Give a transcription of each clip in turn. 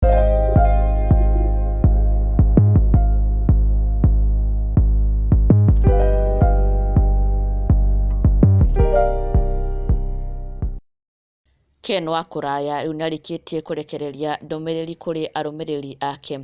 Ken wa Kũraya rĩu nĩ arĩkĩtie kũrekereria ndũmĩrĩri kũrĩ arũmĩrĩri ake.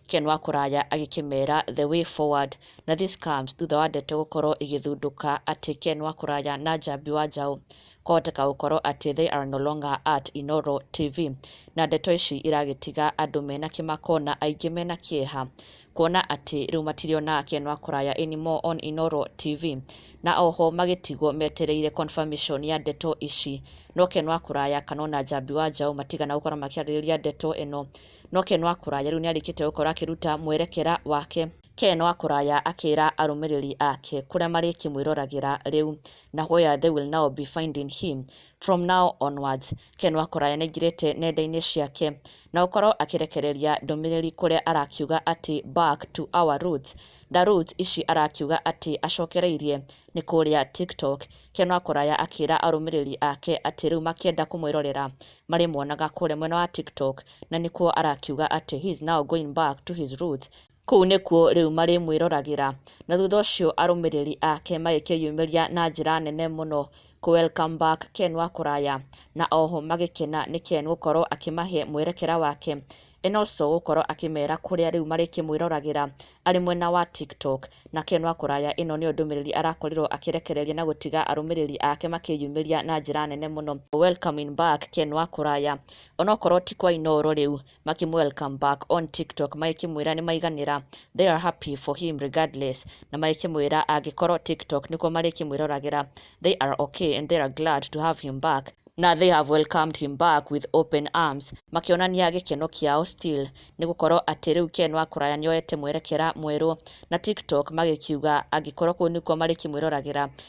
Ken wa Kũraya agĩkĩmera the way forward na this comes thutha wa ndeto gũkorwo igĩthundũka atĩ Ken wa Kũraya na Njambi wa Njaũ kwahoteka gũkorwo atĩ they are no longer at Inooro TV. Na ndeto ici iragĩtiga andũ mena kĩmako na aingĩ mena kĩeha kuona atĩ rĩu matirĩonaga Ken wa Kũraya anymore on Inooro TV. Na oho magĩtigwo metereire confirmation ya ndeto ici. No Ken wa Kũraya kana ona Njambi wa Njaũ matigana gũkorwo makĩarĩrĩria ndeto ĩno. No Ken wa Kũraya rĩu nĩarĩkĩte gũkorwo akĩruta mwerekera wake. Ken wa kũraya akĩra arũmĩrĩri ake kũrĩa marĩkĩmwĩroragĩra rĩu na where they will now be finding him from now onwards. Ken wa kũraya nĩaingĩrĩte nenda-inĩ ciake na gũkorwo akĩrekereria ndũmĩrĩri kũrĩa arakiuga atĩ back to our roots na roots ici arakiuga atĩ acokereirie nĩ kũrĩa TikTok. Ken wa kũraya akĩra arũmĩrĩri ake atĩ rĩu makĩenda kũmwĩrorera marĩmuonaga kũrĩa mwena wa TikTok na nĩkuo arakiuga atĩ he is now going back to his roots. Kũu nĩkuo rĩu marĩmwĩroragĩra. Na thutha ũcio arũmĩrĩri ake magĩkĩyumĩria na njĩra nene mũno kũ welcome back Ken wa kũraya, na oho magĩkena nĩ Ken gũkorwo akĩmahe mwerekera wake and also gũkorwo akĩmera kũrĩa rĩu marĩkĩmwĩroragĩra arĩ mwena wa TikTok. Na Ken wa kũraya ĩno nĩyo ndũmĩrĩri arakorirwo akĩrekereria na gũtiga arũmĩrĩri ake makĩyumĩria na njĩra nene mũno, Welcoming back Ken wa kũraya. Onokorwo ti kwa Inooro rĩu makĩmũ welcome back on TikTok magĩkĩmwĩra nĩ maiganĩra they are happy for him regardless na magĩkĩmwĩra angĩkorwo TikTok nĩkuo marĩkĩmwĩroragĩra they are okay and they are glad to have him back na they have welcomed him back with open arms makĩonania gĩkeno kĩao still nĩ gũkorwo atĩ rĩu Ken wa kũraya nĩoete mwerekera mwerũ na TikTok magĩkiuga angĩkorwo kũu nĩkuo marĩkĩmwĩroragĩra